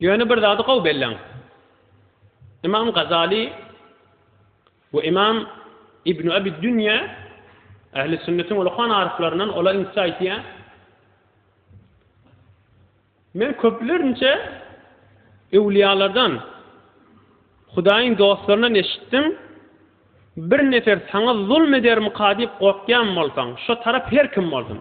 Ýöne bir zady gowy belläň. Ymam Gazaly we Ymam Ibnu Abi Dünýä ähli sünnetiň ulykan aryflaryndan olar inçe aýtýar. Men köplerinçe öwliýalardan, Hudaýyň dostlaryndan eşitdim, Bir nefer saňa zulm edermika diýip gorkýan bolsaň, şo tarap her kim bolsun.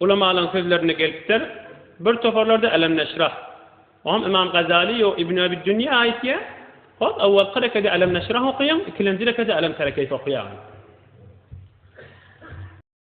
Ulamalaryň sözlerinde gelipdir, bir toparlarda Alem neşrah. Oňam Ymam Gazaly ýok, Ibn Abi Dünýe aýtýar, Hop, awwalky rekede Alem neşrah okaýaň, ikilenji rekede Alem tara keýfe okaýaň.